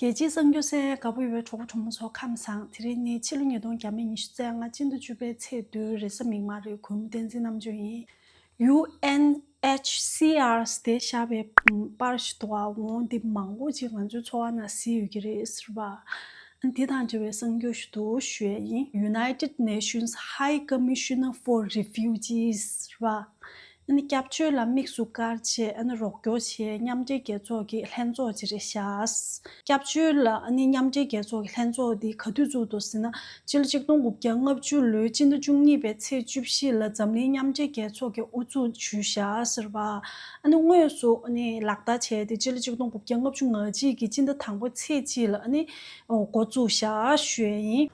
རྒྱལ་སྤྱིའི་གསར་འགྱུར་གསལ་ཡང་དགའ་པོ་ཡོད་པའི་གྲོགས་པོ་གྲོགས་མོ་ཚོ་ཁམས་བཟང་དེ་རིང་ནི་ཕྱི་ལོ་ཉིས་སྟོང་གྱ་མེད་ཉི་ཤུ་རྩ་ལྔ་སྤྱི་ཟླ་བཅུ་པའི་ཚེས་བདུན་རེས་གཟའ་མིག་དམར་རེའི་གུང་མོ་བསྟན་འཛིན་རྣམ་དཔྱོད་ཡིན། UNHCR སྟེ་ཤར་པའི་པར་ཞིག་ཏུ་འང་འོང་འདི་མང་པོ་ཅིག་ང་ཚོའི་འཚོ་བ་ན་བཟི་ཡོད་ཀྱི་རེད་ཟེར་བ་འདི་དང་འབྲེལ་བའི་གསར་འགྱུར་ཞིག་ཏུ་བཞུད་ཡ་ཡིན། United Nations High Commissioner for Refugees ཟེར་བ་སྐྱབས་བཅོལ་ལ་དམིགས་སུ་བཀར་རྗེས་རོགས་སྐྱོར་ཆེད་མཉམ་འབྲེལ་རྒྱལ་ཚོགས་ཀྱི་ལྷན་ཚོགས་ཅིག་རེ་བཞག་སྐྱབས་བཅོལ་མཉམ་འབྲེལ་རྒྱལ་ཚོགས་ཀྱི་ལྷན་ཚོགས་འདི་ག་དུས་བཙུགས་འདུག་ཟེར་ན། སྤྱི་ལོ་ཆིག་སྟོང་དགུ་བརྒྱ་ལྔ་བཅུ་ལོའི་སྤྱི་ཟླ་བཅུ་གཉིས་པའི་ཚེས་བཅུ་བཞི་ལ་འཛམ་གླིང་མཉམ་འབྲེལ་རྒྱལ་ཚོགས་ཀྱི་དབུ་འཛུགས་ཇུས་བཞག་ཟེར་བ་དངོས་སུ་ལག་བསྟར་བྱས་ཏེ་སྤྱི་ལོ་ཆིག་སྟོང་དགུ་བརྒྱ་ལྔ་བཅུ་ང་གཅིག་གི་སྤྱི་ཟླ་དང་པོའི་ཚེས་གཅིག་ལ་འགོ་བཙུགས་ཞག་ཞོལ་ཡིན།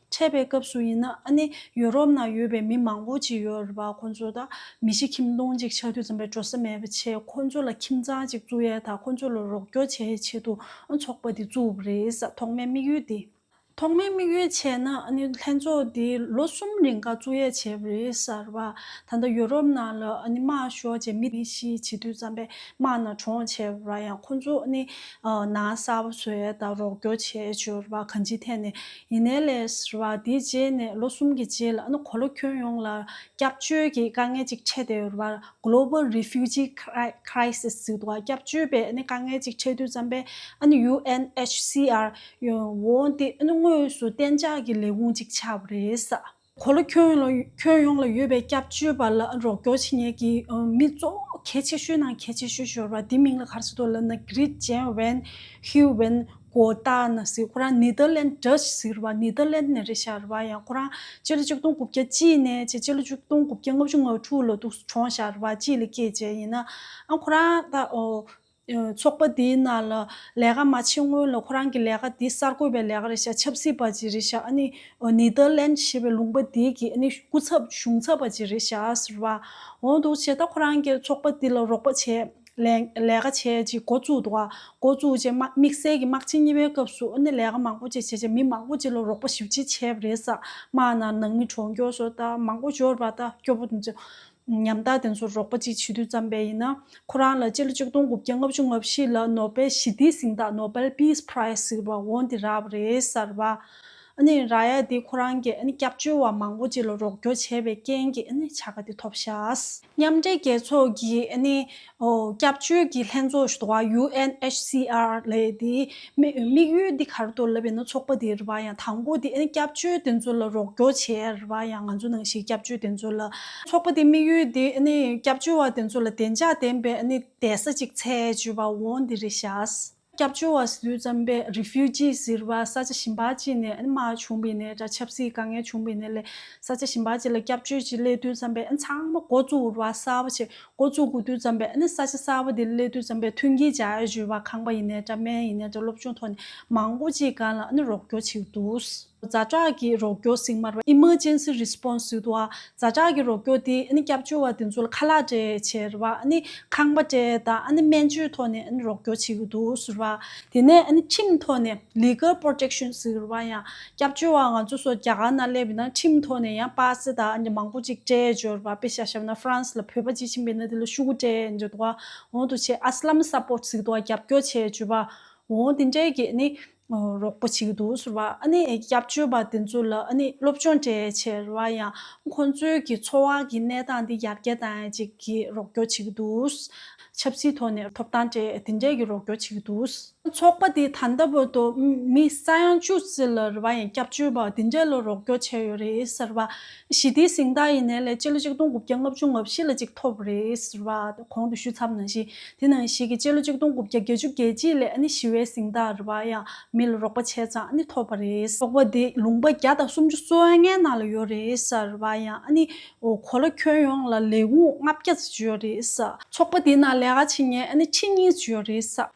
འཕྲད་པའི་སྐབས་སུ་ཡིན་ན་ཨ་ནི་ཡོ་རོབ་ནང་ཡོད་པའི་མི་མང་པོ་ཅིག་ཡོད་རེད་པ་ཁོ་ཚོ་དང་མི་གཞི་ཁྱིམ་སྟོང་ཅིག་ཆགས་དུས་འཛོམས་པའི་འགྲོ་ས་མེད་པ་ཆེ་ཁོ་ཚོ་ལ་ཁྱིམ་ཚང་ཅིག་བཙུགས་ཡས་དང་ཁོ་ཚོ་ལ་རོགས་སྐྱོར་བྱས་ཡས་ཆེད་དུ་ཨ་ཚོགས་པ་འདི་བཙུགས་པ་རེད་ས་ཐོག་མའི་དམིགས་ཡུལ་དེ། ཐོག་མའི་དམིགས་ཡུལ་བྱས་ན་ཨ་ནི་ལྷན་ཚོགས་འདི་ལོ་གསུམ་རིང་ཀ་བཙུགས་ཡས་བྱས་པ་རེད་ས་རེད་པ་ད་ལྟ་ཡོ་རོབ་ནང་ལ་ཨ་ནི་དམག་ཤོག་ཅེས་མི་གཞི་བྱེད་དུས་འཛོམས་པའི་དམག་ནང་གྲོངས་བྱས་པ་རེད་པ་ཡང་ཁོ་ཚོ་ཨ་ནི་ནང་གསར་བ་བཟོ་ཡས་དང་རོགས་སྐྱོར་བྱས་ཡས་བྱོས་རེད་པ་གང་ཅིའི་ཐད་ནས་ཡིན་ནའི་ལས་ར་བ་དེའི་རྗེས་ནས་ལོ་གསུམ་གྱི་རྗེས་ལ་ནི་གོ་ལ་ཁྱོན་ཡོངས་ལ་སྐྱབས་བཅོལ་གྱི་དཀའ་ངལ་ཅིག་འཕྲད་བསྡད་ཡོད་པ། Global Refugee Crisis། ཟེར་བ་སྐྱབས་བཅོལ་བའི་ནི་དཀའ་ངལ་ཅིག་འཕྲད་དུས་བརྩམས་པའི UNHCR། ཡོང་འོང་དེ་ནི་དངོས་སུ་གཏན་འཇགས་ཀྱི་ལས་ཁུངས་ཅིག་ཆགས་པ་རེད། གོ་ལ་ཁྱོན་ཡོངས་ལ་ཡོད་པའི་སྐྱབས་བཅོལ་བ་ལ་རོགས་སྐྱོར་བྱེད་མཁན་གྱི་མི་གཙོ་བོ་གལ་ཆེ་ཤོས་ནང་གལ་ཆེ་ཤོས་ཤོར་བ་དེ་མིང་ལ་གར་སི་ཏོ་ལན་ན་ཀིརིད་ཇན་བན་ཧིའུ་བན་གོ་ཏ་ན་སི་ཁོ་རང་ནི་ཏཱ་ལན Dutch ཟེར་བ་ནི་ཏཱ་ལན་ནས་རེད་ཤར་བ་ཡང་ཁོ་རང་སྤྱི་ལོ་ཆིག་སྟོང་དགུ་བརྒྱ་གཅིག་ནས་ཕྱེད་སྤྱི་ལོ་ཆིག་སྟོང་དགུ་བརྒྱ་ལྔ་བཅུ་ང་དྲུག་ལོ་ཏུ་བྱོན་ཤར་བ་གཅིག་ལས་སྐྱེས་བྱས་ཡིན་ན་ཨང་ཁོ་རང་ཏཱ་ཚོགས་པ་དེའི་ནང་ལ་ལས་ཀ་མ་བྱེད་སྔོན་ལ་ཁོ་རང་གི་ལས་ཀ་དེ་གསར་འགོད་པའི་ལས་ཀ་རེད་ཤག་ཆབ་སྲིད་པ་ཅིག་རེད་ཤག་ནི་ཏེ་ལན་ཞེས་པའི་ལུང་པ་དེ་གི་སྐུ་ཚབ་གཞུང་ཚབ་པ་ཅིག་རེད་ཤག་ཟེར་བ་འོང་འདུག་བྱས་ད་ཁོ་རང་གི་ཚོགས་པ་དེ་ལ་རོགས་པ་བྱས། ལས་ཀ་བྱས་ཅིག་འགོ་བཙུགས་འདུག་འགོ་བཙུགས་རྗེས་དམིགས་བསལ་གྱི་དམག་ཆེན་གཉིས་པའི་སྐབས་སུ་ལས་ཀ་མང་པོ་ཅིག་བྱས་རྗེས་མི་མང་པོ་ཅིག་ལ་རོགས་པ་ཞིབ་ཅིག་བྱས་པ་རེད་ས་དམག་ནང་ནང་མི་གྲོངས་འགྱོགས་སོ་ད་མང་པོ་འབྱོར་བ་ད་སྐྱོ་པོ་འདུག་ཉམ་ཐག་དེ་ཚོར་རོགས་པ་ཅིག་བྱེད་དུས་བརྩམས་པས་ཡིན། ཁོ་རང་ལ་སྤྱི་ལོ་ཆིག་སྟོང་དགུ་བརྒྱ་ལྔ་བཅུ་ལྔ་བཞི་ལ་ནོ་པེལ་ཞི་བདེའི་གཟེངས་རྟགས Nobel Peace Prize ཟེར་བ་འོང་དེ་རག་རེད་གསར་བ། ར་ཡ་དེ་ཁོ་རང་གི་སྐྱབས་བཅོལ་བ་མང་པོ་ཅིག་ལ་རོགས་སྐྱོར་བྱས་པའི་རྐྱེན་གྱིས་བྱ་དགའ་དེ་ཐོབ་ཤག། མཉམ་འབྲེལ་རྒྱལ་ཚོགས་ཀྱིས་སྐྱབས་བཅོལ་གྱི་ལྷན་ཚོགས་ཞུ་བ UNHCR ལས་དེའི་དམིགས་ཡུལ་འདི་གར་གཏོར་ལབ་ཡིན་ན་ཚོགས་པ་དེའི་རེ་བ་ཡང་དང་པོ་དེ་སྐྱབས་བཅོལ་དེ་ཚོ་ལ་རོགས་སྐྱོར་བྱེད་ཡར་རེ་བ་ཡང་ང་ཚོ་ནང་བཞིན་སྐྱབས་བཅོལ་དེ་ཚོ་ལ། ཚོགས་པ་དེའི་དམིགས་ཡུལ་དེ་སྐྱབས་བཅོལ་བ་དེ་ཚོ་ལ་བདེ་འཇགས་ལྡན་པའི་གདན་ས་ཅིག་ཚད་ཅེས་པ་འོང་འདི་རེ་བྱས། སྐྱབས་བཅོལ་བ་སུ་ཙམ་པས Refugee ཟེར་བ་ས་ཆ་ཞིམ་པ་ཅིག་ནས་ཨེ་མ་བྱུང་བའི་ནས་དྲ་ཆབ་སྲིད་དཀའ་ངལ་བྱུང་བའི་ནས་ལས་ས་ཆ་ཞིམ་པ་ཅིག་ལ་སྐྱབས་བཅོལ་གྱི་སླད་དུས་ཙམ་པས་ཨེ་ཚང་མ་འགོ་བཙུགས་འུར་བ་གསར་བ་ཆེད་འགོ་བཙུགས་དགོས་དུས་ཙམ་པས་ཨེ་ས་ཆ་གསར་བ་དེ་སླད་དུས་ཙམ་པས་མཐུན་རྐྱེན་བྱ་གཞོལ་བ་ཁང་པ་ཡིན་ནས་དྲ་སྨན་ཡིན་ནས་དྲ་སློབ་ཆུང་ཐོག་ནས་མང་པོ་ཅིག་གང་ལ་ཨེ་རོགས་སྐྱོར་བྱེད་དུས། བཟའ་བཅའ་ཀྱི་རོགས་སྐྱོར་གཟིགས་མར་བ Emergency Response Suit བ་བཟའ་བཅའ་ཀྱི་རོགས་སྐྱོར་དེ་སྐྱབས་བཅོལ་བ་དེ་ཚོ་ལ་ཁ་ལག་སྤྲད་ཕྱིར་བ་ཁང་པ་སྤྲད་དང་སྨན་བཅོས་ཐོག་ནས་རོགས་སྐྱོར་བྱེད་ཀྱི་འདུག་ཟེར་བ། དེ་ནས་ཁྲིམས་ཐོག་ནས Legal Protection ཟེར་བ་ཡང་སྐྱབས་བཅོལ་བ་ང་ཚོ་སོགས་རྒྱ་གར་ན་སླེབས་པའི་ནང་ཁྲིམས་ཐོག་ནས་ཡང་པཱ་སེ་དང་མང་པོ་ཅིག་སྤྲད་འབྱོར་བ་དཔེ་ཤ་ཤབ་ན France ལ་བོད་པ་ཅིག་ཕྱིན་པའི་ནང་དེ་ལ་ཤུ་གུ་སྤྲད་འབྱོར་དུ་བ་འོང་དུ་ཆེད Aslam Support ཟིག་དུ་བ་རྒྱབ་སྐྱོར་བྱས་འབྱོར་བ་འོང་དེ་འབྲེལ་གྱི་རོགས་པ་བྱེད་ཀྱི་འདུག་ཟེར་བ་ཨ་ནི་སྐྱབས་བཅོལ་བ་དེ་ཚོ་ལ་ཨ་ནི་སློབ་སྦྱོང་གྲས་ཆེར་བ་ཡང་ཁོང་ཚོའི་གི་འཚོ་བ་གི་གནས་སྟངས་དེ་ཡར་རྒྱས་དང་གཅིག་གི་རོགས་སྐྱོར་བྱེད་ཀྱི་འདུག་ཆབ་སྲིད་ཐོག་ནས་ཐོབ་ཐང་གྲས་དེ་འདྲས་ཀྱི་རོགས་སྐྱོར་བྱེད་ཀྱི་འདུག། ཚོགས་པ་དེ་ད་ལྟ་བར་དུ་མི་ས་ཡང་བཅུ་བརྩི་ལ་རེ་བ་ཡང་སྐྱབས་བཅོལ་བ་དེ་འདྲས་ལ་རོགས་སྐྱོར་བྱས་ཡོད་རེད་ཟེར་བ་ཞི་བདེའི་གཟེངས་རྟགས་ཡིན་ནའི་ལས་བྱེད་ལོ་ཆིག་སྟོང་དགུ་བརྒྱ་ལྔ་བཅུ་ལྔ་བཞི་ལ་གཅིག་ཐོབ་རེད་ཟེར་བ་གོང་དུ་ཞུས་ཚབ་ནང་བཞིན་དེ་ནང་བཞིན་གྱི་བྱེད་ལོ་ཆིག་སྟོང་དགུ་བརྒྱ་བརྒྱད་ཅུ་རྒྱལ་སྤྱིའི་ལས་ནི་ཞི་བའི་གཟེངས་རྟགས་རེད་བ་ཡང་མི་ལ་རོགས་པ་བྱས་ཙང་ནི་ཐོབ་པ་རེད། རོགས་པ་དེ་ལུང་པ་བརྒྱ་དང་སུམ་ཅུ་སོ་ལྔའི་ནང་ལ་ཡོད་རེད་ཟེར་བ་ཡང་ནི་གོ་ལ་ཁྱོན་ཡོངས་ལ་ལས་ཁུངས་ལྔ་བརྒྱ་ཙམ་བྱས་ཡོད་རེད་ཟེར། ཚོགས་པ་དེའི་ནང་ལས་ཀ་བྱེད་མཁན་ནི་ཁྱི་གཉིས་བྱས་ཡོད་རེད་ཟེར།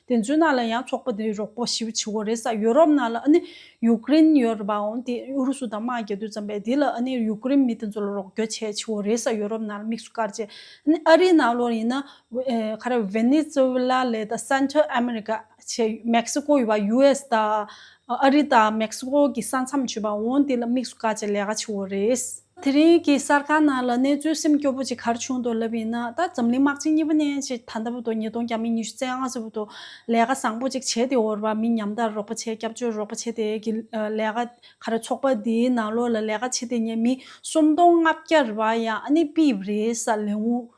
དེ་ཚོའི་ནང་ལ་ཡང་ཚོགས་པ་དེའི་རོགས་པ་ཞིབ་ཆེ་བོ་རེད་ས་ཡུ་རོབ་ནང་ལ་ནི་ཡུཀ་རེན་ཡོད་རེད་པའང་དེ་ཨུ་རུ་སུ་དང་དམག་རྒྱག་དུས་ཙམ་པས་དེ་ལ་ནི་ཡུཀ་རེན་མི་དེ་ཚོ་ལ་རོགས་སྐྱོར་བྱས་ཆེ་བོ་རེད་ས་ཡུ་རོབ་ནང་ལ་དམིགས་སུ་བཀར་རྗེས་ནི་ཨ་རིའི་ནང་ལོར་ཡིན་ན། ཁ་ར་ཝེ་ནི་ཛུ་ཝེ་ལ་ལའི་དང་སན་ཐྲེལ་ཨ་མེ་རི་ཀ་ཆེ་མེག་སི་ཀོ་ཡོད་པ་ཡུ་ཨེ་སི་དང་ཨ་རི་དང་མེག་སི་ཀོ་གི་ས་མཚམས་ཆོད་པའང་དེ་ལ་དམིགས་སུ་བཀར་རྗེས་ལས་ཀ་ཆེ་བོ་རེད། དེ་རིང་གི་གསར་ཁང་ནང་ལ་གནས་ཚུལ་སེམས་སྐྱོ་པོ་ཅིག་གར་བྱུང་འདུག་ལབ་ཡིན་ན་ད་འཛམ་གླིང་དམག་སྤྱི་གཉིས་པ་ནས་ཅི་ད་ལྟ་བུ་དང་ཉིས་སྟོང་བརྒྱ་མི་ཉི་ཤུ་རྩེ་ཨང་སོ་བུ་དང་ལས་ཀ་བཟང་པོ་ཅིག་བྱས་ཏེ་འོར་བ་མི་ཉམས་དར་རོགས་པ་བྱེད་སྐྱབས་བཅོལ་རོགས་པ་བྱེད་དེ་གི་ལས་ཀ་ག་རེ་ཚོགས་པ་འདིའི་ནང་ལོགས་ལ་ལས་ཀ་བྱེད་དེ་ཉེ་མི་སུམ་སྟོང་ལྔ་བརྒྱར་བ་ཡང་ཨ་ནི་པི་བི་རེ་ས་ལེ་འུ་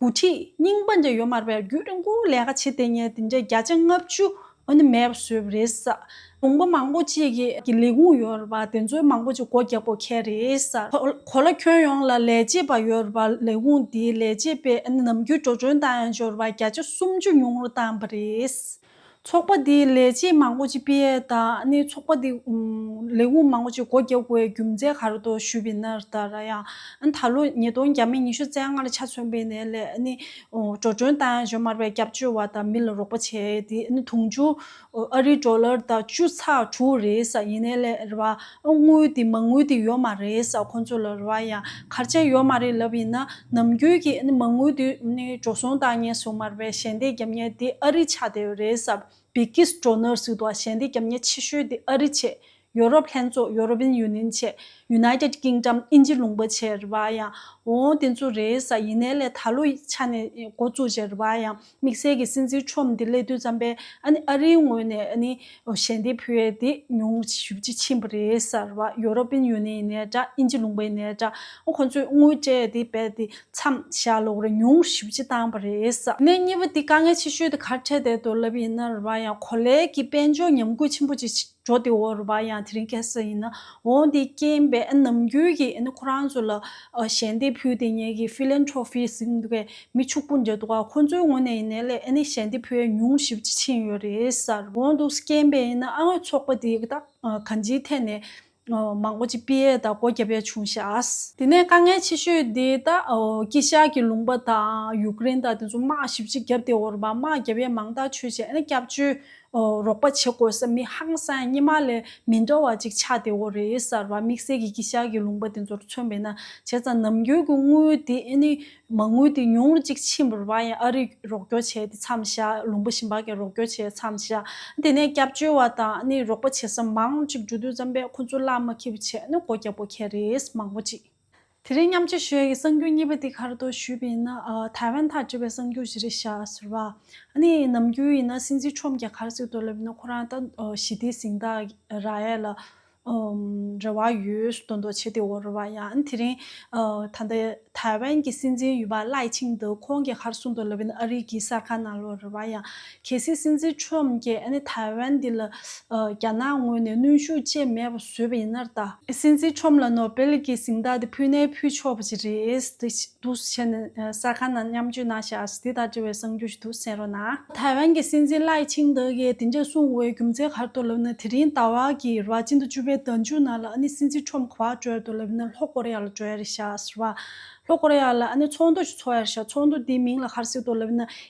དགུ་ཁྲིད་རྙིང་པ་འདྲ་ཡོད་མ་རེད་པས་རྒྱུད་རིང་པོ་ལས་ཀ་བྱེད་དེ་ཉིད་འདི་འདྲའི་བརྒྱ་ཆ་ལྔ་བཅུ་ནི་མེད་པ་བཟོས་པ་རེད། ལུང་པ་མང་པོ་ཅིག་གི་ལས་ཁུངས་ཡོད་རེད་པ་དེ་ཚོའི་མང་པོ་ཅིག་སྒོ་རྒྱག་དགོས་ཁེལ་རེད། གོ་ལ་ཁྱོན་ཡོངས་ལ་ལས་བྱེད་པ་ཡོད་རེད་པ་ལས་ཁུངས་དེའི་ལས་བྱེད་པའི་ནམ་རྒྱུན་འགྲོ་གྲོན་དང་ཡང་སྦྱོར་བ་བརྒྱ་ཆ་སུམ་ཅུ་ཉུང་རུ་བཏང་བ་རེད། ཚོགས་པ་དེའི་ལས་བྱེད་མང་པོ་ཅིག་པི་ཡེ་ད་ནི་ཚོགས་པ་དེའི་ལས་ཁུངས་མང་པོ་ཅིག་སྒོ་རྒྱག་དགོས་པའི་རྒྱུ་མཚན་ག་རེ་དོ་ཞུས་པའི་ན་ར་ད་ར་ཡང་ད་ལོ་ཉིས་སྟོང་བརྒྱ་མེད་ཉི་ཤུ་རྩེ་ལྔ་ལ་ཆ་མཚོན་པའི་ནས་ལས་ནི་འགྲོ་གྲོན་དང་ཇོ་མར་པའི་སྐྱབས་བཅོལ་བ་དང་མི་ལ་རོགས་པ་བྱས་ཏེ་ནི་དུང་ཕྱུར་ཨ་རི་ཏྲོ་ལར་ད་བཅུ་ཚ་དྲུག་རེས་ཡིན་ནས་ལས་ར་བ་དངུལ་དེ་མ་དངུལ་དེ་ཡོད་མ་རེད་ས་ཁོང་ཚོ་ལ་རེ་བ་ཡང་གར་ཆད་ཡོད་མ་རེད་ལབ་ཡིན་ན་ནམ་རྒྱུན་གྱི་མ་དངུལ་དེ་འགྲོ་སོང་བཏང་ཉེན་སོང་མ་རེད་པས་ཞལ་འདེབས་རྒྱབ་ཉེན་དེ་ཨ་རི་ཆགས་བསྡད་ཡོད་རེད་ས་བི་ཀི་སི་ཏྲོ་ནར་སི་ཏོ་ཞལ་འདེབས་རྒྱབ་ཉེན་ཆེ་ཤོས་དེ་ཨ་རི་བྱེད་ཡོ་རོབ་ལྷན་ཚོགས་ཡོ་རོབ་ཡིན་ཡུ་ནིན་བྱེད་ཡུ་ནའི་ཏེད་ཀིང་ཏམ་ཨིན་ཇི་ལུང་པ་བྱེད་རེ་བ་ཡང་འོང་དེ་ཚོ་རེད་ས་ཡིན་ནའི་ལས་ད་ལོ་ཆ་ནས་འགོ་བཙུགས་བྱེད་རེ་བ་ཡང་དམིགས་བསལ་གྱི་སྲིད་འཛིན་ཁྲོམ་དེ་སླེ་དུས་ཙམ་པས་ཨ་རིའི་ངོས་ནས་ཞལ་འདེབས་ཕུལ་བས་དེ་ཉུང་ཞུ་རྒྱུ་ཕྱིན་པ་རེད་ཟེར་བ་ཡོ་རོབ་པིན་ཡུ་ནེན་ནས་འདྲ་དབྱིན་ཇི་ལུང་པའི་ནས་འདྲ་ཁོ་ཚོས་དངུལ་སྤྲད་དེ་རྦད་དེ་མཚམས་བཞག་ལོག་རེ་ཉུང་ཞུ་རྒྱུ་བཏང་བ་རེད། གནད་གཉིས་པ་དེ་དཀའ་ངལ་ཆེ་ཤོས་དེ་གར་འཕྲད་བསྡད་འདུག་ལབ་ཡིན་ན་རེད་བ་ཡང་གོ་ལའི་གི་དཔལ་འབྱོར་ཉམས་རྒུད་ཆེན་པོ་ཅིག་འགྲོ་དེ་འོར་བ་ཡང་དེ་རིང་གེ་སར་ཡིན། འོང་དེ་རྐྱེན་པས་ནམ་རྒྱུན་གྱི་ཁོ་རང་ཚོ་ལ་ཞལ་འདེབས་ཕུལ་དེ་ངེད་ཀྱི Philanthropy ཟིན་འདུག་གས་མི་ཕྱུག་པོ་འདྲ་འདུག་ག་ཁོ་ཚོའི་ངོ་ནས་ཡིན་ནའི་ལས་ཞལ་འདེབས་ཕུལ་བས་ཉུང་ཞིབ་ཅིག་ཕྱིན་ཡོད་རེད། འོང་འདུག་རྐྱེན་པས་ཡིན་ཨ་ངོས་ཚོགས་པ་འདི་དག་གང་ཅིའི་ཐད་ནས་མང་པོ་ཅིག་དཔེ་ཡས་དང་སྒོ་རྒྱབ་ཡས་བྱུང་ཤག། དེ་ནས་དཀའ་ངལ་ཆེ་ཤོས་དེ་དག་ཀི་ཤག་གི་ལུང་པ་དང་ཡུཀ་རེན་དང་དེ་ཚོ་དམག་ཞིབ་ཅིག་བརྒྱབ་དེ་འོར་བ་དམག་རྒྱབ་ཡས་མང་དག་ཆོས་བྱས་སྐྱབས་བཅོལ་རོགས་པ་བྱེད་དགོས་ས་མི་ཧང་སངས་སྙེ་མ་ལས་མི་འདྲ་བ་ཅིག་ཆགས་ཏེ་འོ་རེད་གསར་བ་དམིགས་བསལ་གྱི་ཀི་ཤ་གི་ལུང་པ་དེ་ཚོར་མཚོན་པས་ན་བྱས་ཙང་ནམ་རྒྱུན་གྱི་དངུལ་དེ་ནི་མ་དངུལ་དེ་ཉུང་རུ་ཅིག་ཕྱིན་པར་བ་ཡང་ཨ་རིས་རོགས་སྐྱོར་བྱས་ཏེ་མཚམས་བཞག་ལུང་པ་ཞིམ་པ་གན་རོགས་སྐྱོར་བྱས་མཚམས་བཞག་དེ་ནས་སྐྱབས་བཅོལ་བ་དང་ནི་རོགས་པ་བྱེད་ས་མང་ཅིག་འབྲུ་དུས་རྩམ་པས་ཁོ་ཚོ་བླ་མ་ཁྱི་བུ་བྱས་ནི་སྒོ་རྒྱབ་པོ་ཁྱེད་རེས་མང་པོ་ཅིག། དེ་རིང་མཉམ་སྤྱོད་ཞོལ་གྱི་གསར་འགྱུར་གཉིས་པ་འདི་གར་དུ་ཞུས་པ་ཡིན་ན། ཐའེ་ཝན་དང་འབྲེལ་བའི་གསར་འགྱུར་བཞི་རེ་བཞག་ཟེར་བ། ནི་ནམ་རྒྱུན་ཡིན་ན་སྲིད་འཛིན་ཁྲོམ་རྒྱ་གར་སྲིད་དུ་སླེབས་ཡོད་ན་ཁོ་རང་ད་ཞི་བདེའི་གཟེངས་རྟགས་ར་ཡས་ལ་རེ་བ་ཡོད་སྡོ་འདོ་བྱེད་དེ་འོ་རེ་བ་ཡང་དེ་རིང། ད་ལྟ་ཐའེ་ཝན་གྱི་སྲིད་འཛིན་ཡུལ་བ་ལའེ་ཆིང་དེ་ཁོང་རྒྱ་གར་སྲུང་དུ་སླེབས་ཡོད་ན་ཨ་རིག་གི་གསར་ཁང་ནང་ལོ་རེ་བ་ཡང་གལ་སྲིད་སྲིད་འཛིན Trump ཀྱིས་ཨ་ནི་ཐའེ་ཝན་འདི་ལ་རྒྱ་ནག་ངོས་ནས་གནོན་ཤུགས་ཆེ་མེད་པ་བཟོས་པ་ཡིན་ནར་ད། སྲིད་འཛིན Trump ལ་ནོ་སྦེལ་གྱི་གཟེངས་རྟགས་དེ་ཕུལ་ནའི་ཕུལ་ཆོག་པ་ཞིག་རེད་འདུག་བྱས་ནས་གསར་ཁང་ནང་མཉམ་སྤྱོད་གནང་ཤག་འདི་ལྟར་དྲི་བའི་གསང་རྒྱུ་ཞིག་འདུག་གསན་རོགས་གནང། ཐའེ་ཝན་གྱི་སྲིད་འཛིན Lai Ching-te ཀྱིས་དེ་འདྲ་གསུངས་བའི་རྒྱུ་མཚན་ག་རེ་དོ་ལབ་ན་དེ་རིང་ཟླ་བ་གི་རེ་བ་ཅན་དུ་བཅུ་པའི་ཟླ་མཇུག་ནང་ལ་ཨ་ནི་སྲིད་འཛིན Trump གོ་བ་བྲོ་ཡ་དོ་ལབ་ན་ལྷོ་ཀོ་རེ་ཡ་ལ་བྲོ་ཡ་རེད་ཤག་ཟེར་བ། ལྷོ་ཀོ་རེ་ཡ་ལ་ཨ་ནི་ཚོགས་འདུ་ཞིག་ཚོགས་ཡ་རེད་ཤག་ཚོགས་འདུ་དེའི་མིང་ལ་ག་རེ་ཟེར་དོ་ལབ་ན་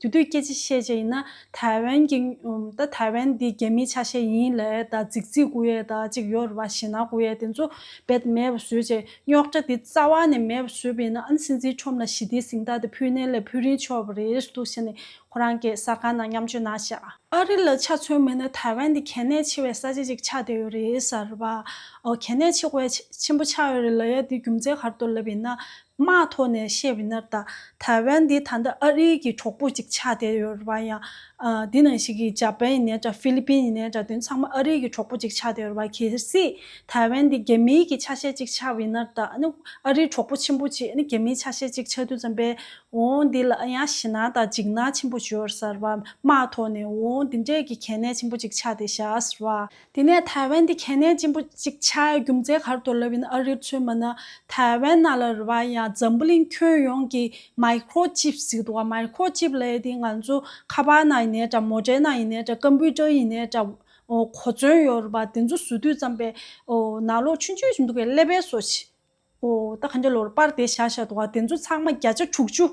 དེ་དུས་སྐད་ཅིག་ཤེས་བྱ་ཡིན་ན་ཐའེ་ཝན་གྱི། ད་ཐའེ་ཝན་འདི་རྒྱ་མིའི་ཆ་ཤས་ཡིན་ལས་ད་རྫིག་རྫིག་དགུ་ཡས་ད་ཅིག་ཡོད་རེད་བ་ཞེ་ན་དགུ་ཡས་དེ་ཚོ་བེད་མེད་པ་བཟོས་བྱས་རྙོག་དྲ་དེ་རྩ་བ་ནས་མེད་པ་བཟོས་པ་ཡིན་ན་ཨན་སིན་ཛིའི་ཁྲོམ་ལ་ཞི་བདེའི་གཟིངས་རྟགས་དེ་ཕུལ་ནས་ལས་ཕུལ་རིན་ཆོག་པ་རེད་འདུག་ཞེ་ནས་ཁོ་རང་གེ་སར་ཁང་ནང་མཉམ་སྤྱོད་གནང་ཤག། ཨ་རི་ལ་ཆ་མཚོན་མིན་ན་ཐའེ་ཝན་འདི་གལ་གནད་ཆེ་བའི་ས་ཆ་ཅིག་ཆགས་བསྡད་ཡོད་རེད་ཟེར་བ། གལ་གནད་ཆེ་བའི་ཆེན་པོ་ཆགས་ཡོད་རེད་ལ་ཡ་འདི་རྒྱུ་མཚན་གར་དུ་ལབ་ཡིན་ན་དམག་ཐོག་ནས་བཤད་བའི་ནར་ལྟ། ཐའེ་ཝན་འདི་ད་ལྟ་ཨ་རིའི་གི་གྲོགས་པོ་ཅིག་ཆགས་བསྡད་ཡོད་རེད་བ་ཡང། འདི་ནང་ཞིག་གི་འཇའ་པན་ཡིན་ནའི་འདྲ་ཧྥི་ལི་པིན་ཡིན་ནའི་འདྲ་དོན་ཚང་མ་ཨ་རིའི་གི་གྲོགས་པོ་ཅིག་ཆགས་བསྡད་ཡོད་རེད་བ་གལ་སྲིད་ཐའེ་ཝན་འདི་རྒྱ་མིའི་གི་ཆ་ཤས་ཅིག་ཆགས་བའི་ནར་ལྟ་ཨ་རིའི་གྲོགས་པོ་ཆེན་པོ་ཅིག་རྒྱ་མིའི་ཆ་ཤས་ཅིག་ཆགས་དུས་ཙམ་པས་འོང་འདི་ལ་ཨ་ཡང་ཞེ་སྣང་དང་འཇིགས་སྣང་ཆེན་པོ་བྱོས་རེད་བ་དམག་ཐོག་ནས་འོང་འདི་འདྲའི་གི་གལ་གནད་ཆེན་པོ་ཅིག་ཆགས་བསྡད་ཤག་རེད་བ། དེ་ནས་ཐའེ་ཝན་དེ་གལ་གནད་ཅན་པོ་གཅིག་ཆགས་ཡོད་རྒྱུ་མཚན་གར་དོར་ལབ་ཡིན་ཨ་རིར་མཚོན་པ་ན་ཐའེ་ཝན་ནཱ་ལ་རི་བ་ཡང་འཛམ་བུ་གླིང་ཁྱོན་ཡོངས་ཀྱི་མཱི་ཁྲོ་ཅིབ་ཟིག་འདུག་ག་མཱི་ཁྲོ་ཅིབ་ལས་དེ་ང་ཚོ་ཁ་པར་ནང་ཡིན་ནའི་འདྲ་མོ་ཏྲའི་ནང་ཡིན་ནའི་འདྲ་ཀམ་པུའུ་ཏྲར་ཡིན་ནའི་འདྲ་གོ་མཚོན་ཡོད་རུ་བ་དེ་ཚོ་བཟོ་དུས་ཙམ་པའི་ནང་ལོ་ཆུང་ཆུང་ཞིག་འདུག་གས་ཀླད་པའི་སོ་ཨོ་ད་ག་འདྲ་ལོར་པར་དེ་བཞག་བཞག་འདུག་ག་དེ་ཚོ་ཚང་མ་བརྒྱ་ཆ་དྲུག་ཅུ་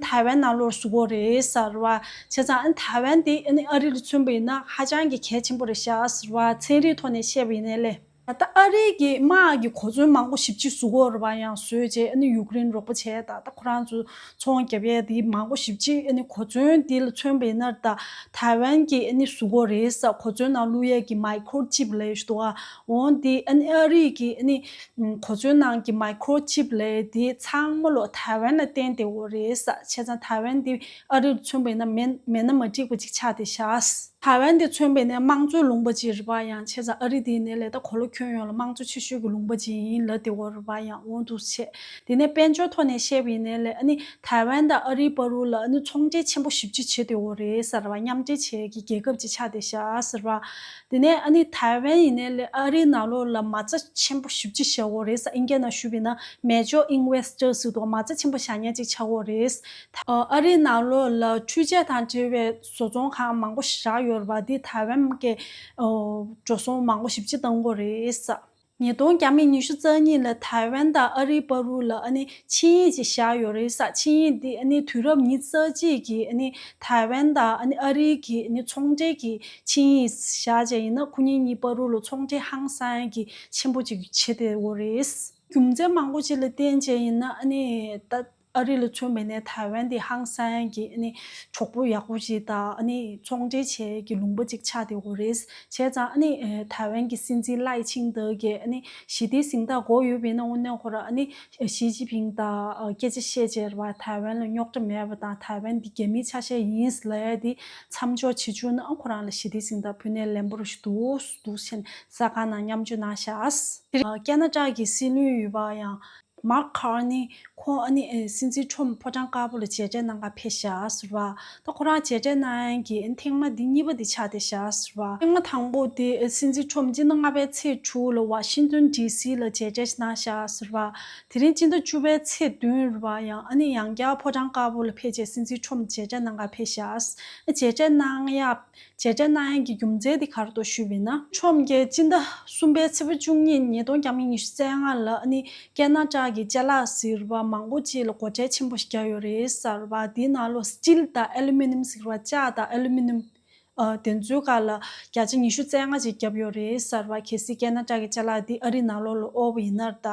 ཐའེ་ཝན་ནང་ལོར་བཟོ་གོ་རེད་ཟེར་བ་བྱས་ཙང་ཨ་ནི་ཐའེ་ཝན་དེ་ཨ་ནི་ཨ་རི་ལ་མཚོན་པ་ཡིན་ན་ཧ་ཅང་གི་གལ་ཆེན་པོ་རེད་བཞག་ཟེར་བ་ཚན་རིག་ཐོག་ནས་བཤད་པ་ཡིན་ནའི་ལེ། ད་ལྟ་ཨ་རི་གི་དམག་གི་གོ་མཚོན་མང་པོ་ཞིབ་ཅིག་བཟོ་གོ་རེད་བ་ཡང་བཟོས་རྗེས་ཨ་ནི་ཡུཀ་རེན་རོགས་པ་བྱས་ད་ལྟ་ཁོ་རང་ཚོ་ཚོང་རྒྱབ་ཡས་དེ་མང་པོ་ཞིབ་ཅིག་ཨ་ནི་གོ་མཚོན་དེ་ལ་མཚོན་པ་ཡིན་ནར་ད་ཐའེ་ཝན་གྱི་ཨ་ནི་བཟོ་གོ་རེད་ཟེར་གོ་མཚོན་ནང་བླུག་ཡས་ཀྱི་མཱི་ཁོར་ཅིབ་ལས་བཞུགས་འདུག་ག། འོན་ཏེ་ཨ་རིའི་གི་གོ་མཚོན་ནང་གི Microchip ལས་དེ་ཚང་མ་ལོ་ཐའེ་ཝན་ལ་བརྟེན་ཏེ་འོ་རེད། བྱས་ཙང་ཐའེ་ཝན་དེ་ཨ་རིར་མཚོན་པས་ན་མེད་མེད་ན་མ་འགྲིག་པ་ཅིག་ཆགས་ཏེ་བཞག། ཐའེ་ཝན་དེ་མཚོན་པས་ན་དམངས་གཙོའི་ལུང་པ་ཅིག་རེད་པ་ཡང་བྱས་ཙང་ཨ་རི་དེ་ནི་ལས་ད་གོ་ལོ་ཁྱོན་ཡོངས་ལ་དམངས་གཙོ་ཆེ་ཤོས་གི་ལུང་པ་ཅིག་ཡིན་ལ་དེ་འོ་རེད་པ་ཡང་འོང་འདུག་བྱས། དེ་ནས་དཔལ་འབྱོར་ཐོག་ནས་བཤད་པའི་ནས་ལས་ཐའེ་ཝན་དང་ཨ་རིའི་བར་རུ་ལ་ཚོང་འབྲེལ་ཆེན་པོ་ཞིབ་ཅིག་བྱས་ཏེ་འོ་རེད། མཉམ་འབྲེལ་བྱེད་ཀྱི་རྒྱལ་ཁབ་ཅིག་ཆགས་ཏེ་བཞག། དེ་ནས་ཨ་ནི་ཐའེ་ཝན་ཡིན་ནའི་ལས་ཨ་རིའི་ནང་ལོགས་ལ་མ་རྩ་ཆེན་པོ་ཞུ་ཅི་བྱའོ་རེད་ས་ཨིན་སྐད་ནང་ཞུ་བས་ན་མེ་ཇོ་ཨིན་ཝེ་སི་ཏར་ཟིག་དོག་མ་རྩ་ཆེན་པོ་བཞག་ཉར་ཅིག་བྱའོ་རེད། ཨ་རིའི་ནང་ལོགས་ལ་འཕྲུལ་ཆས་དང་འབྲེལ་བའི་བཟོ་ཚོང་ཁང་མང་པོ་བཞག་ཡོད་རེད་པ་དེ་ཐའེ་ཝན་མ་ཀའི་འགྲོ་སོང་མང་པོ་ཞིབ་ཅི་བཏང་གོ་རེད། ཉིས་སྟོང་གྱ་མི་ཉི་ཤུ་རྩ་གཉིས་ལ་ཐའེ་ཝན་དང་ཨ་རིའི་པར་རུ་ལ་ཆིངས་ཡིག་ཅིག་བཞག་ཡོད་རེད་ས་ཆིངས་ཡིག་འདི་དུས་རབས་ཉིས་རྩ་གཅིག་གི་ཐའེ་ཝན་དང་ཨ་རིའི་གི་ཚོང་འབྲེལ་གྱི་ཆིངས་ཡིག་བཞག་བྱས་ཡིན་ན་ཁོ་གཉིས་གཉིས་པར་རུ་ལ་ཚོང་འབྲེལ་ཧང་སང་གི་ཆེན་པོ་ཅིག་བྱེད་བདེ་བོ་རེད། རྒྱུ་མཚན་མང་པོ་ཅིག་ལ་བརྟེན་བྱས་ཡིན་ན། ཨ་རི་ལ་ཚུད་མེད་ནས་ཐའེ་ཝན་དེ་ཧང་སན་གྱི་གྲོགས་པོ་ཡག་པོ་ཞིག་དང་ཚོང་འབྲེལ་བྱེད་ཀྱི་ལུང་པ་ཅིག་ཆགས་ཏེ་འོ་རེད་བྱས་ཙང། ཐའེ་ཝན་གྱི་སྲིད་འཛིན་ལའི་ཆིང་ཏེ་གིས་ཞི་བདེའི་གཟེངས་རྟགས་འགོག་ཡོད་པས་ན་དབུ་མནན་ཁོ་རང་ཞི་ཅིན་ཕིང་དང་སྐད་ཆ་བཤད་ཕྱིར་བར་ཐའེ་ཝན་ལ་རྙོག་དྲ་མེད་པ་དང་ཐའེ་ཝན་དེ་རྒྱ་མིའི་ཆ་ཤས་ཡིན་ལའི་དེ་མཚམས་འཇོག་བྱེད་བཅུག་ན་ཁོ་རང་ལ་ཞི་བདེའི་གཟེངས་རྟགས་ཕུལ་ནས་ལན་པོ་རུ་ཞིག་འདུག་ཟེར་ནས་ས་ཁང་ནང་མཉམ་སྤྱོད་གནང་ཤག། ཀྱེ་ན་ཀྲག་གི་སྲིད་བློན་ཡོད་པ་ཡང། མར་ཁ་ནི་ཁོང་ཨ་ནི་སྲིད་འཛིན་ཁྲོམ་ཕོ་བྲང་དཀར་པོ་ལ་མཇལ་འཕྲད་གནང་སྐབས་ཕེབས་ཞྭ་ཟུར་བ་དང་ཁོ་རང་མཇལ་འཕྲད་གནང་ཡན་གྱི་ཐེངས་མ་དེ་གཉིས་པ་དེ་ཆགས་ཏེ་ཞྭ་ཟུར་བ་ཐེངས་མ་དང་པོ་དེ་སྲིད་འཛིན་ཁྲོམ་སྤྱི་ཟླ་ལྔ་པའི་ཚེས་དྲུག་ལ་ཝ་ཤིང་ཏོན་ཏི་སི་ལ་མཇལ་འཕྲད་གནང་ཞྭ་ཟུར་བ་དེ་རིང་སྤྱི་ཟླ་བཅུ་པའི་ཚེས་བདུན་རུ་བ་ཡང་ཨ་ནི་ཡང་བསྐྱར་ཕོ་བྲང་དཀར་པོ་ལ་ཕེབས་རྗེས་སྲིད་འཛིན་ཁྲོམ་མཇལ་འཕྲད་གནང་སྐབས་ཕེབས་ཞྭ་མཇལ་འཕྲད་གནང་ཡབ། བྱེད་འབྲས་སྣ་ཡན་གྱི་རྒྱུ་མཚན་དེ་གར་དུ་ཞུས་པས་ན། ཆོས་རྒྱལ་སྤྱི་ཟླ་གསུམ་པའི་ཚེས་བཅུ་གཉིས་ཉིས་སྟོང་གྱ་མི་ཉི་ཤུ་རྩེ་ལྔ་ལ་ནི་སྐད་སྣ་ཅག་གི་ལྕེ་ལག་ཟེར་བ་མང་པོ་ཅིག་ལ་སྒོ་ཁྲལ་ཆེན་པོ་ཞིག་རྒྱག་ཡོད་རེད་ཟེར་བ་དེའི་ནང་ལོ Steel དང Aluminum ཟེར་བ་ལྕགས་དང Aluminum དེ་ཚོའི་ཁ་ལ་བརྒྱ་ཆ་ཉི་ཤུ་རྩེ་ལྔ་ཅིག་བརྒྱབ་ཡོད་རེད་ཟེར་བ་གལ་སྲིད་སྐད་སྣ་ཅག་གི་ལྕེ་ལག་འདི་ཨ་རིའི་ནང་ལོགས་ལ་དབོར་བ་ཡིན་ནར་ད་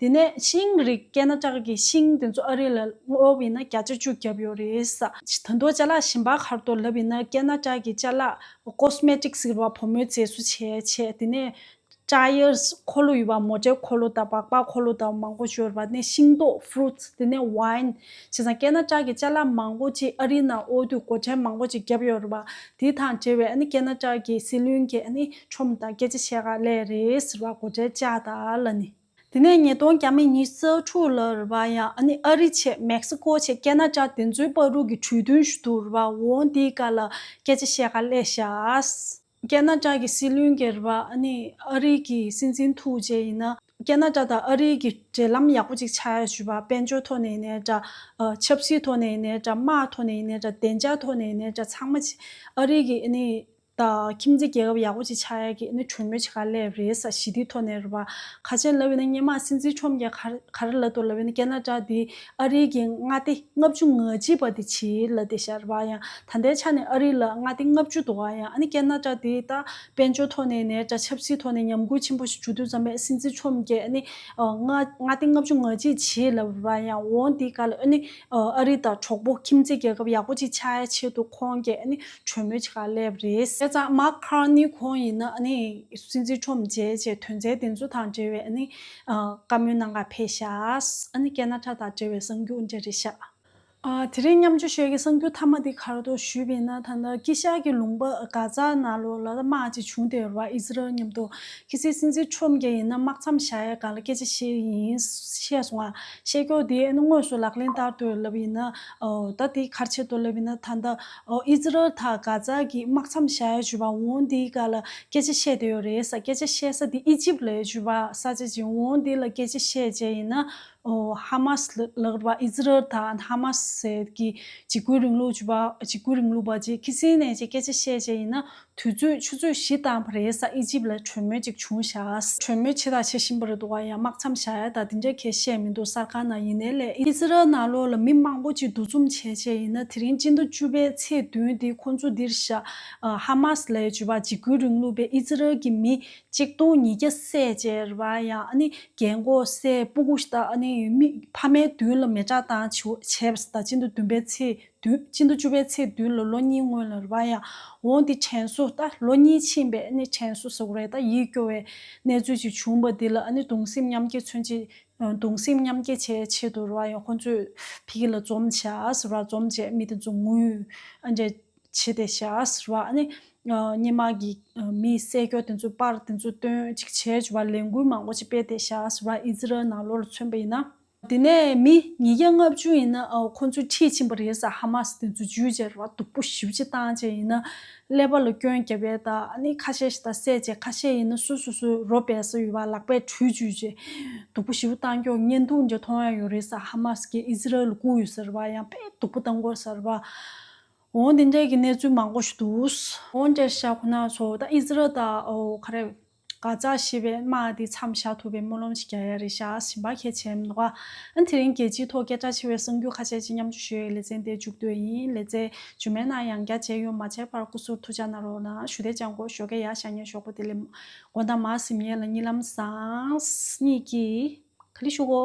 དེ་ནས་ཤིང་རིགས་སྐྱེས་ན་ལྕགས་ཀྱི་ཤིང་དེ་ཚོ་ཨ་རི་ལ་སྔོག་པའི་ན་བརྒྱ་ཆ་བཅུ་བརྒྱབ་ཡོད་རེད། ད་མདོ་ལྕགས་ལག་ཞིམ་པ་མཁར་དུ་ལབ་པའི་ན་སྐྱེས་ན་ལྕགས་ཀྱི་ལྕགས་ལག Cosmetic ཟེར་བ་བུ་མོའི་རྫས་སུ་བྱས་བྱས་དེ་ནས། Tyres འཁོར་ལོ་ཡོད་པ་མོ་ཏྲའི་འཁོར་ལོ་དང་སྦག་སྦག་འཁོར་ལོ་དང་མང་པོ་སྦྱོར་བ་ནས་ཤིང་ཏོག Fruits དེ་ནས Wine བྱས་ན་སྐྱེས་ན་ལྕགས་ཀྱི་ལྕགས་ལག་མང་པོ་ཅིག་ཨ་རིའི་ནང་ཨོ་དུས་སྒོ་ཁྲལ་མང་པོ་ཅིག་བརྒྱབ་ཡོད་རེད་བ། དེ་དང་འབྲེལ་བའི་སྐྱེས་ན་ལྕགས་ཀྱི་སྲིད་བློན་གྱི་ཆོམ་དང་སྐད་ཆ་བཤད་ག་ལས་རེད་ཟེར་བ་སྒོ་ཁྲལ་ལྕགས་ལ་ནི། དེ་ནས་ཉིས་སྟོང་གྱ་མི་ཉིས་བརྩེགས་དྲུག་ལ་རུ་བ་ཡང་ཨ་ནི་ཨ་རི་ཆེད་མེག་སི་ཀོ་ཆེད་སྐད་ན་ཅག་དེ་ཚོའི་དཔའ་རུ་གི་གྲོས་མཐུན་ཞུ་ཐུག་རུ་བ་འོང་དེའི་ཀ་ལ་སྐད་ཆ་བཤད་ག་ལས་ཤགས། སྐད་ན་ཅག་གི་སྲིད་བློན་གྱི་རུ་བ་ཨ་ནི་ཨ་རི་གི་སྲིད་འཛིན་ཐུག་རྗེས་ཡིན་ན་སྐད་ན་ཅག་དང་ཨ་རི་གི་འབྲེལ་ལམ་ཡག་པོ་ཅིག་ཆགས་ཡོད་ཞུ་བ་དཔལ་འབྱོར་ཐོག་ནས་ཡིན་ནས་འདྲ་ཆབ་སྲིད་ཐོག་ནས་ཡིན་ནས་འདྲ་དམག་ཐོག་ནས་ཡིན་ནས་འདྲ་བདེ་འཇགས་ཐོག་ནས་ཡིན་ནས་འདྲ་ཚང་མ་ཨ་རི་གི་ཨ་ནི་དང། ཁྱིམ་མཚེས་རྒྱལ་ཁབ་ཡག་པོ་ཅིག་ཆགས་ཡག་གི་ནི་གྲོས་མོལ་བྱེད་ག་ལས་རེད་ས་ཞི་བདེའི་ཐོག་ནས་རེད་བ། ཁ་ཆེ་ལབ་ཡོད་ན་སྙེ་མ་སྲིད་འཛིན་ཁྲོམ་རྒྱལ་ག་རེ་ལབ་འདུག་ལབ་ཡོད་ན་ཀན་ན་ཀྲ་དེ་ཨ་རིའི་གི་མངའ་སྡེ་ལྔ་བཅུ་ང་གཅིག་པ་དེ་ཆིའི་ལ་སྡེ་ཤ་རེད་བ་ཡང་ད་ལྟའི་ཆ་ནས་ཨ་རི་ལ་མངའ་སྡེ་ལྔ་བཅུ་འདུག་བ་ཡང་ཨ་ནི་ཀན་ན་ཀྲ་དེ་ད་དཔལ་འབྱོར་ཐོག་ནས་ནས་ཀྲ་ཆབ་སྲིད་ཐོག་ནས་ཉམས་རྒུད་ཆེན་པོ་ཞིག་བྱུ་དུས་ཙམ་པས་སྲིད་འཛིན་ཁྲོམ་རྒྱལ་ཨ་ནི་མངའ་སྡེ་ལྔ་བཅུ་ང་གཅིག་ཆིའི་ལ་རེད་བ་ཡང་འོང་དེ་ག་ལ་ཨ་ནི་ཨ་རི་དང་གྲོགས་པོ་ཁྱིམ་མཚེས་རྒྱལ་ཁབ་ཡག་པོ་ཅིག་ཆགས་ཡག་ཆེད་དུ་ཁོང་རྒྱལ་ཨ་ནི། གྲོས་མོལ་བྱེད་ཁག་སླེབས་རེད། དེ་ཙམ་མ་ཁར་ནི་ཁོང་ཡིན་ན་སྲིད་འཛིན་ཁྲོམ་བཅས་ཀྱི་དོན་ཚན་དེ་ཚོ་དང་འབྲེལ་བའི་བཀའ་མོལ་གནང་ག་ཕེ་ཤཱི་ཀ་ན་ཁྲ་དང་འབྲེལ་བའི་གསང་རྒྱུགས་འདྲ་རེ་ཤཱི། དེ་རིང་མཉམ་འཇོག་ཤོས་ཀྱི་གསང་རྒྱུགས་མཐའ་མ་དེ་གར་དུ་ཞུས་པས་ན་ད་ལྟ་ཀི་ཤཱི་ཀྱི་ལུང་པ་ག་ཛ་ན་ལོ་ལ་དམག་ཅིག་བྱུང་དེ་རུ་ཨི་ཟི་རལ་མཉམ་དུ་ཁི་སི་སྲིད་འཛིན་ཁྲོམ་གྱི་ཡིན་ན་དམག་མཚམས་བཞག་ཡ་ག་ལ་སྐད་ཆ་ཤེས་ཡིན་བཤད་སོང་ང་ཤེས་ཀྱོ་དེ་དངོས་སུ་ལག་ལེན་བསྟར་དུ་སླེབས་ཡིན་ན་ད་དེ་གར་ཆེད་དུ་སླེབས་ཡིན་ན་ད་ལྟ། ཨིས་རལ་དང་གྷ་ཛ་གི་དམག་མཚམས་ཞལ་བྱུས་པ་འོ་འདི་ག་ལ་སྐད་ཆ་བཤད་དུས་ཡོད་རེད་ས་སྐད་ཆ་བཤད་ས་འདི་ཨི་ཇིབ་ལས་བྱུས་པ་ས་ཆ་ཅིག་འོ་འདི་ལ་སྐད་ཆ་བཤད་བྱས་ཡིན་ན་ཧ་མ་སི་ལགས་ར་བ་ཨིས་རལ་དང་ཧ་མ་སི་ཟེར་གི་འཇིགས་སྐུལ་རིང་ལུགས་བྱུས་པ་འཇིགས་སྐུལ་རིང་ལུགས་པ་ཅིག་ཁི་སི་ནས་ཅིག་སྐད་ཆ་བཤད་བྱས་ཡིན་ན་དུས་ཚོད་ཆུ་ཚོད་བཞི་བཏང་བ་རེད་ས་ཨི་ཇིབ་ལ་གྲོས་མོལ་ཅིག་བྱུང་ཤགས་གྲོས་མོལ་ཆེ་དག་བྱེད་བཞིན་པ་རེད་འདུག་ཡ་དམག་མཚམས་བཞག་ཡ་ད་དེ་འདྲ་ཁས་བཤད་མི་འདུག་གསར་ཁང་ནང་ཡིན་ནའི་ལས་ཨི་ཟི་རལ་ནང་ལོགས་ལ་མི་མང་པོ་ཅིག་འདུ་འཛོམས་བྱས་བྱས་ཡིན་ན་དེ་རིང་སྤྱི་ཟླ་བཅུ་པའི་ཚེས་བདུན་འདི་ཁོང་ཚོ་འདིར་ཤགས་ཧ་མ་སི་ལའི་ཇུས་པ་འཇིགས་སྐུལ་རིང་ལུགས་པས་ཨི་ཟི་རལ་གྱི་མི་གཅིག་སྟོང་ཉིས་བརྒྱ་བསད་བཅད་རེད་བ་ཡང་ཨ་ནི་རྒྱལ་མགོ་སའི་སྤུ་གུ་ཤ་སྟག་ཨ་ནི་མི་ཕ་མའི་མདུན་ལ་མེ་བྲག་བཏང་བྱས་བ་ད་སྤྱི་ཟླ་བདུན་པའི་ཚེས་དུས་ཕྱིན་དུ་བཅུ་པའི་ཚེས་བདུན་ལོ་ལོ་གཉིས་སྔོན་ལ་རུ་བ་ཡང་འོངས་ཏེ་དྲན་གསོ་ད་ལོ་གཉིས་ཕྱིན་པས་ནི་དྲན་གསོ་བཟོ་རེ་ད་ཡིད་སྐྱོ་བའི་གནས་ཚུལ་ཅིག་བྱུང་བ་འདི་ལ་ནི་གདུང་སེམས་མཉམ་སྐྱེ་མཚོན་ཆེད་གདུང་སེམས་མཉམ་སྐྱེ་བྱེད་ཆེད་དུ་རུ་བ་ཡང་ཁོ་ཚོས་ཕི་གི་ལ་འཛོམས་བྱ་རུ་བ་འཛོམས་བྱེད་མི་དེ་ཚོ་ངུས་འབྲས་བྱེད་དེ་བྱ་རུ་བ་ནི་སྙེ་དམག་གི་མི་སེ་སྐྱོ་དེ་ཚོའི་པར་དེ་ཚོ་སྟོན་ཅིག་བྱེད་རུ་བ་ལས་འགུལ་མང་པོ་ཅིག་སྤེལ་དེ་བྱ་རུ་བ་ཨི་ཛི་རལ་ནང་ལོ་རུ་མཚོན་པ་ཡིན་ན། དེ་ནས་མི་ཉིས་བརྒྱ་ལྔ་བཅུ་ཡིན་ན་ཁོང་ཚོའི་འཁྲིས་ཕྱིན་པ་རེད་ས་ཧ་མ་སི་དེ་ཚོ་འཇུས་བཅད་ར་བ་སྡུག་པོ་ཞི་བྱེད་བཏང་བཅད་ཡིན་ན་ཀླད་པ་ལ་སྐྱོན་རྒྱབ་པས་ད་ནི་ཁ་ཤས་ཤིག་ད་བསད་བཅད་ཁ་ཤས་ཡིན་ན་སུ་སུ་སུ་རོ་སྦས་ས་ཡོད་པ་ལག་པས་དྲུས་འཇུས་བཅད་སྡུག་པོ་ཞི་བོ་བཏང་སྐྱོ་བརྙན་ཐུང་འདྲ་མཐོང་ཡ་ཡོད་རེད་ས་ཧ་མ་སི་གིས་ཨི་ཟི་རལ་ལ་བཀུག་ཡོད་ས་ར་བ་ཡང་དཔེ་སྡུག་པོ་བཏང་དགོས་ས་ར་བ་འོང་དེ་འདྲས་ཀྱི་གནས་ཚུལ་མང་པོ་ཞིག་འདུག། འོང་འདྲས་ཤ་ཁོ་ན་ཚོ་ད་ཨི་ཟི་རལ་ད་ཨོ་ཁ་རེ། ག་ཙག་ཞེས་པའི་དམག་དེ་མཚམས་བཞག་ཐུབ་པའི་སྨོན་ལམ་ཞིག་བརྒྱ་ཡ་རེ་བཞག་བཞིན་པ་གལ་ཆེན་མདོག་ག་ཨན་དེ་རིང་རྒྱལ་སྤྱིའི་ཐོག་སྐད་གྲགས་ཆེ་བའི་གསུང་རྒྱུན་ཁ་ཤས་ཀྱི་མཉམ་ཆུ་ཞོའི་ལེ་ཚན་དེ་མཇུག་བསྡོད་ཡིན་ལེ་ཚན་རྗུན་མེད་ན་ཡང་བརྒྱ་བྱས་ཡོང་མ་བྱས་པར་སྐུ་ཟུར་ཐུགས་བཅག་ན་རོགས་ན་ཞུ་དེ་བཅག་འགོ་ཞོ་གས་ཡ་ཤ་ཉེ་ཞོག་པོ་དེ་ལས་མགོ་མདའ་མ་གཟིམ་ངེད་ལ་གཉིད་ལམ་བཟང། གཉིད་ཀྱིས། ག་ལི་ཤུག་གོ།